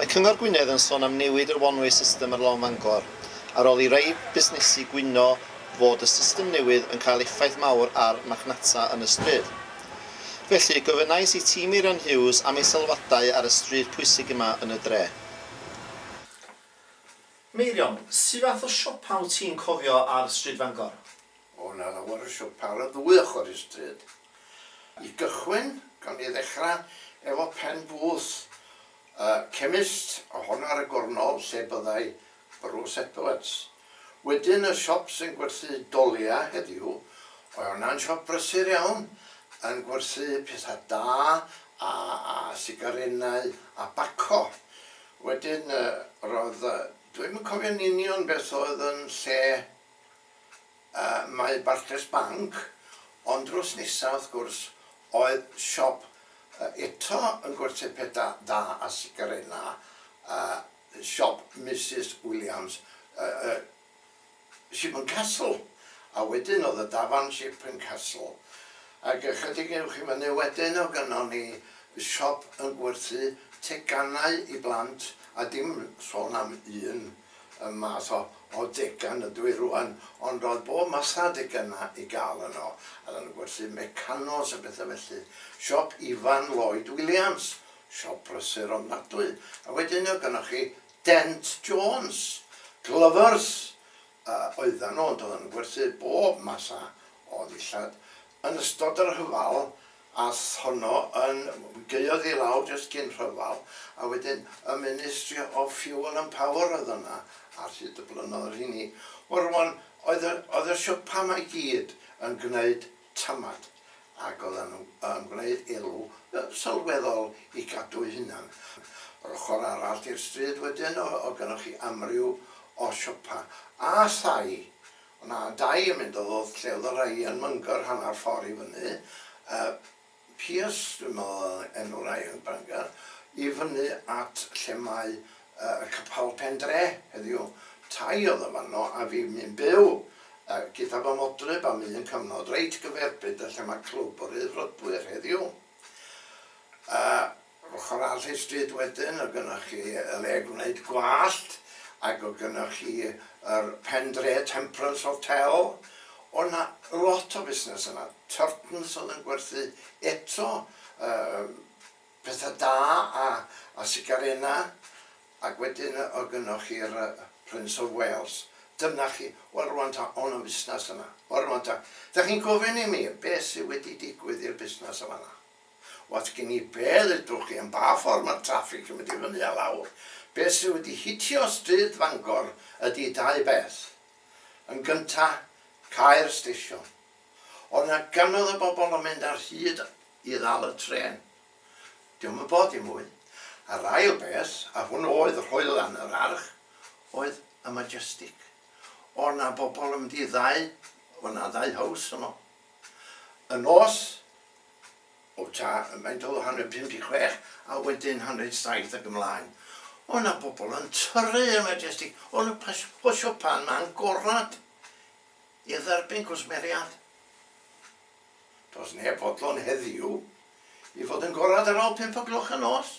Mae Cyngor Gwynedd yn sôn am newid yr one-way system ar Long Fangor, ar ôl i rai busnesu gwyno fod y system newydd yn cael effaith mawr ar marchnata yn y stryd. Felly, gofynnais i Tîm Meirion Hughes am ei sylwadau ar y stryd pwysig yma yn y dre. Meirion, su fath o siopa wyt ti'n cofio ar Stryd Fangor? O, 'na lawer o siopa ar y ddwy ochr i'r stryd. I gychwyn, gawn ni ddechrau efo pen booth y chemist, ohono ar y gornol, lle byddai Bruce Epelets. Wedyn y siop sy'n gwerthu dolia heddiw, oedd hwnna'n siop brysur iawn, yn gwerthu pethau da a a sigarennau a baco. Wedyn yy roedd yy dwi ddim yn cofio'n union beth oedd yn lle yy Mae Barclays Bank, ond drws nesa wrth gwrs oedd siop yy eto yn gwerthu pethau da a sigarennau yy yn siop Misus Williams y y Shipman Castle a wedyn o'dd y dafarn Shipman Castle ag ychydig uwch i fyny wedyn o' gynnon ni siop yn gwerthu teganau i blant a dim sôn am un y math o o degan ydw i rŵan ond o'dd bob math a degana i ga'l yno a oddan nw'n gwerthu mecanos a betha felly siop Ifan Lloyd Williams Siop brysur ofnadwy. A wedyn oedd gynnoch chi Dent Jones, Glovers yy oeddan nhw ond oeddan nhw'n gwerthu bob math a o ddillad. Yn ystod y rhyfel ath honno yn, gaeodd i lawr jyst cyn rhyfel a wedyn y Ministry of Fuel and Power oedd yna ar hyd y blynnoedd rheini. Wel rŵan oedd y oedd y siopa 'ma i gyd yn gwneud tamad, ac oedden nhw yn gwneud elw sylweddol i gadw'u hunan. Yr ochr arall i'r stryd wedyn oedd gennoch chi amryw o siopa, a thai. O'na dai yn mynd o lle oedd y rhai yn myngor hanner ffor i fyny, yy. Pearse, dwi'n meddwl oedd enw rai yn Bangor, i fyny at lle mae y capel pen-dre heddiw. Tai oedd yn fanno a fi mi'n byw gyda fy modryb am un cyfnod reit gyferbyn 'da lle mae Clwb yr Eurodwyr heddiw. Yr ochr arall y stryd wedyn o' gynnoch chi y le gwneud gwallt ac o' gynnoch chi yr pen dre Temperance Hotel. O' 'na lot o fusnes yna. Turton's o'dd yn gwerthu eto yym petha da a a sigarena ac wedyn o' gynnoch chi'r yy Prince of Wales. Dyna chi. Wel rŵan ta o' 'na fusnes yna? Wel rŵan ta, 'dach chi'n gofyn i mi be' sy wedi digwydd i'r busnes yn fan 'na? Oes gen i be ddedwch chi am ba ffordd mae'r traffig yn mynd i fyny a lawr? Beth sydd wedi hitio stryd Fangor ydi dau beth. Yn gynta, cau'r stesion. Oedd 'na gannoedd o bobl yn mynd ar hyd i ddal y trên. Dio'm yn bod i mwy. A'r ail beth, a hwn oedd hoelan yr arch, oedd y Majestic. Oedd 'na bobl yn mynd i ddau, oedd 'na ddau house yno. Y nos O ta ymaint o hanner pum deg chwech a wedyn hanner saith ac ymlaen. O' 'na bobl yn tyrru i'r Majestic, o'n nhw'n pas- posio pan ma' angorad i dderbyn cwsmeriad. Does neb fodlon heddiw i fod yn gorad ar ol pump o gloch y nos.